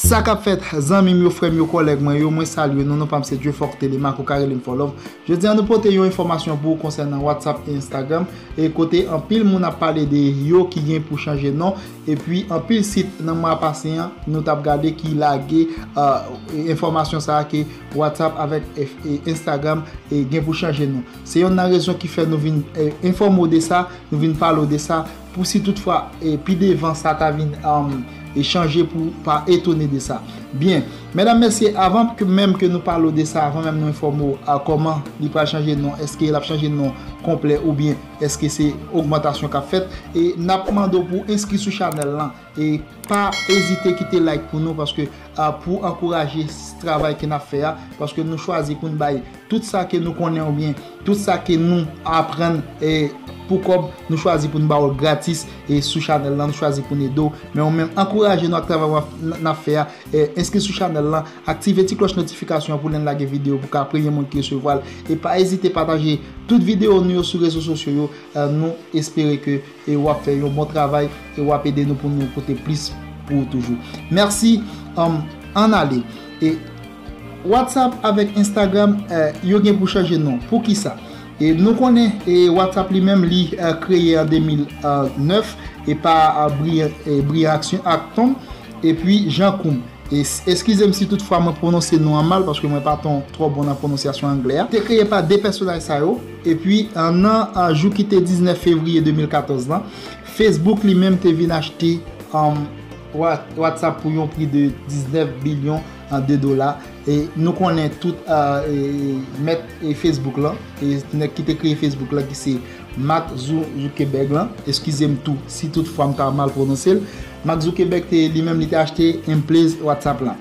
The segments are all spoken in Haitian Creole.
Sa kap fèt zanmim yo frèm yo kòlèg mwen yo mwen salye nou non pam se Dieufort Thélémaque ou ka relem Fòlòm jodi an nou pote yon enfòmasyon pou ou konsènan WhatsApp e Instagram e kote anpil moun ap pale de yo ki gen pou chanje non epi anpil sit nan mwa pase an nou tap gade ki lage enfòmasyon sa ke WhatsApp avèk Instagram gen pou chanje non. Se yonn nan rezon ki fè nou vin enfòme w de sa, nou vin pale w de sa, pou si tout fwa pi devan sa ta vin chanje pou w pa etone de sa. Byen, medam mesye, avan ke menm ke nou pale w de sa, avan menm nou enfòme w a kòman li pral chanje non, eske l ap chanje non konplè oubyen eske se ogmantasyon k ap fèt, e n ap mande w pou w enskri sou chanèl lan. E pa ezite kite like pou nou paske pou ankouraje travay ke nap fè a paske nou chwazi poun bay tout sa ke nou konnen oubyen tout sa ke nou aprann pou kòb nou chwazi poun ba ou gratis sou chanèl lan nou chwazi poun ede ou men ou menm ankouraje nou ak travay nap fè a enskri sou chanèl lan aktive ti klòch notifikasyon pou lèn lage video pou ka premye moun ki resevwal e pa ezite pataje tout video nou yo sou rezo sosyo yo nou espere ke E wap fè yon bon travay e wap ede nou pou nou pote plis pou ou toujou. Merci humm ann ale e WhatsApp avek Instagram yo gen pou chanje non poukisa? E nou konnen e WhatsApp li menm li kreye an 2009 e pa Brian Action Acton epi Jean Koum e eskizem si tout fwa mwen pwononse non an mal paske mwen pa ton twò bon nan pwononsyasyon anglè a te kreye pa 2 pèsonaj sa yo. Epi, nan jou ki te 19 fevriye 2014 la, Facebook li menm te vin achte WhatsApp pou yon pri de 19 bilyon de dola. E nou konnen tout mèt Facebook lan, nèg ki te kreye Facebook lan ki se Mark Zuckerberg lan, eskize m tou si tout fwa m ta mal pwononse l, Mark Zuckerberg li menm li te achte anplez WhatsApp lan.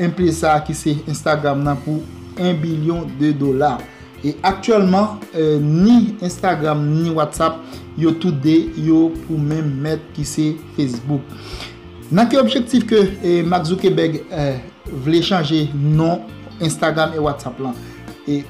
Enpe sa ki se Instagram nan pou 1 bilyon de dola. E aktyèlman ni Instagram ni WhatsApp yo tout 2 yo pou menm mèt ki se Facebook. Nan ki objektif ke Mark Zuckerberg vle chanje non Instagram e WhatsApp lan? E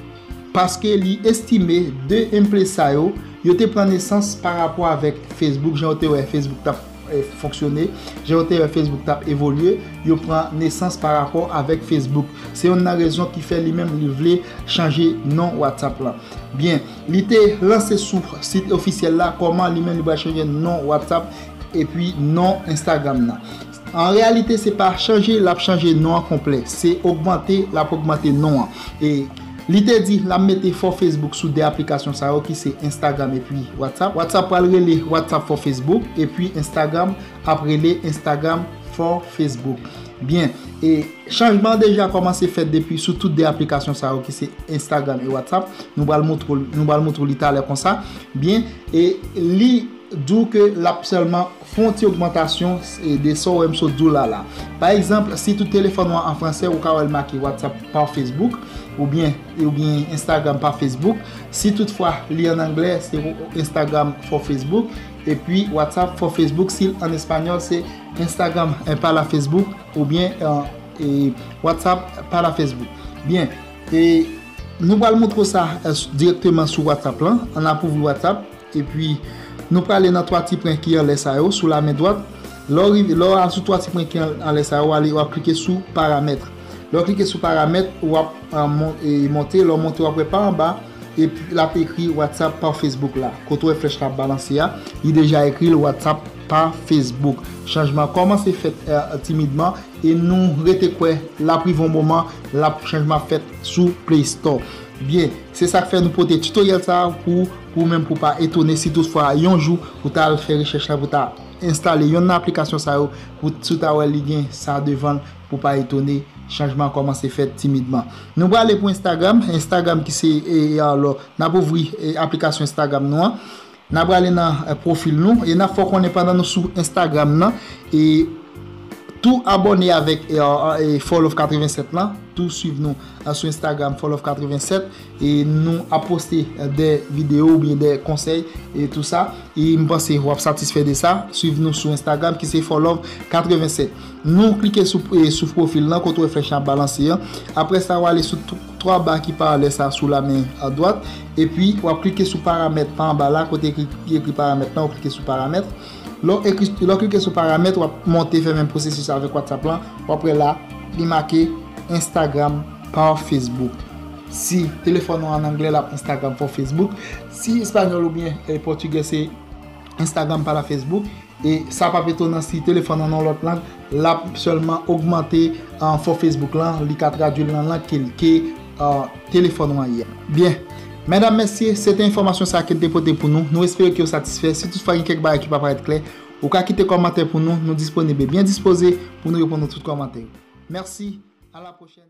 paske li estime 2 enpe sa yo, yo te pran nesans pa rapò avèk Facebook jan ou te wè Facebook tap. fonksyone, jan yo te wè Facebook t ap evolye, yo pran nesans pa rapò avèk Facebook. Se yonn nan rezon ki fè li menm li vle chanje non WhatsApp lan. Byen, li te lanse sou sit ofisyèl la kòman li menm li pral chanje non WhatsApp epi non Instagram nan. An reyalite se pa chanje l ap chanje non an konplè, se ogmante l ap ogmante non an. Li te di, N ap mete for Facebook sou 2 aplikasyon sa yo ki se Instagram epi WhatsApp. WhatsApp pral rele WhatsApp for Facebook epi Instagram ap rele Instagram for Facebook. Byen, e chanjman an deja kòmanse fèt depi sou tout 2 aplikasyon sa yo ki se Instagram e WhatsApp. Nou pral moutre w, nou pral moutre w li talè konsa. Byen, e li di w ke l ap sèlman. Fè yon ti ogmantasyon de sa w wè m sot di w la la. Pa egzanp, si tout telefòn ou an an fransè, ou ka wè l make WhatsApp par Facebook oubyen oubyen Instagram par Facebook. Si tout fwa li an anglè, se Instagram for Facebook epi WhatsApp for Facebook. Si l an espanyòl, se Instagram para Facebook oubyen WhatsApp para Facebook. Byen, nou pral montre w sa dirèkteman sou WhatsApp lan. An n ap ouvri WhatsApp. Epi, nou prale nan twa ti pwen ki anlè sa yo, sou la men dwat. Lè w rive, lè w al sou twa ti pwen ki anlè sa yo, w ale, w ap klike sou Paramèt. Lè w klike sou Paramèt, w ap monte, lè w monte w ap wè pa anba, l ap ekri WhatsApp par Facebook la. Kote w wè flèch la ap balanse a, li deja ekri l WhatsApp par Facebook. Chanjman an kòmanse fèt timidman e nou rete kwè l ap rive yon moman l ap, chanjman ap fèt sou Play Store. Byen, se sa k fè nou pote titoryèl sa a pou. Ou menm pou pa etone si tout fwa yon jou ou ta al fè rechèch la pou ta enstale yonn nan aplikasyon sa yo pou si w ta wè li gen sa devan l pou pa etone chanjman an kòmanse fèt timidman. Nou prale pou Instagram, Instagram ki se alò n ap ouvri aplikasyon Instagram nou an n ap prale nan pwofil nou e n ap fè w konnen pandan nou sou Instagram nan e tou abòne avèk Fow Love 87 lan tou swiv nou sou Instagram Fow Love 87 E nou ap poste de video ou byen de konsey e tou sa. E m panse wap satisfe de sa. Swiv nou sou Instagram ki se Forlove 87. Nou klike sou profil lan kote ou wè flèch lan ap balanse an. Apre sa ou ale sou 3 ba ki paralel sa sou la men dwat. E pi wap klike sou paramèt pa anba la kote ki ekri paramèt lan ou klike sou paramèt. Lè w ekri lè w klike sou paramèt wap monte fèmen pwosesis la avèk whatsapp lan wap wè la li make instagram par facebook si telefòn ou an anglè lap instagram for facebook si espagnol oubyen pòtigè se instagram para facebook e sa pap etonan si telefòn ou an nan yon lòt lang L ap sèlman ogmante enfo Facebook lan, li ka tradui l nan lang ke li ke telefòn ou an ye. Byen, medam mesye, se te enfòmasyon sa ke n te pote pou nou. Nou espere ke ou satisfè. Si toutfwa gen kèk bagay ki pa parèt klè, ou ka kite kòmantè pou nou. Nou disponib e byen dispoze pou nou reponn nou tout kòmantè yo. Mèsi, a la pwochèn.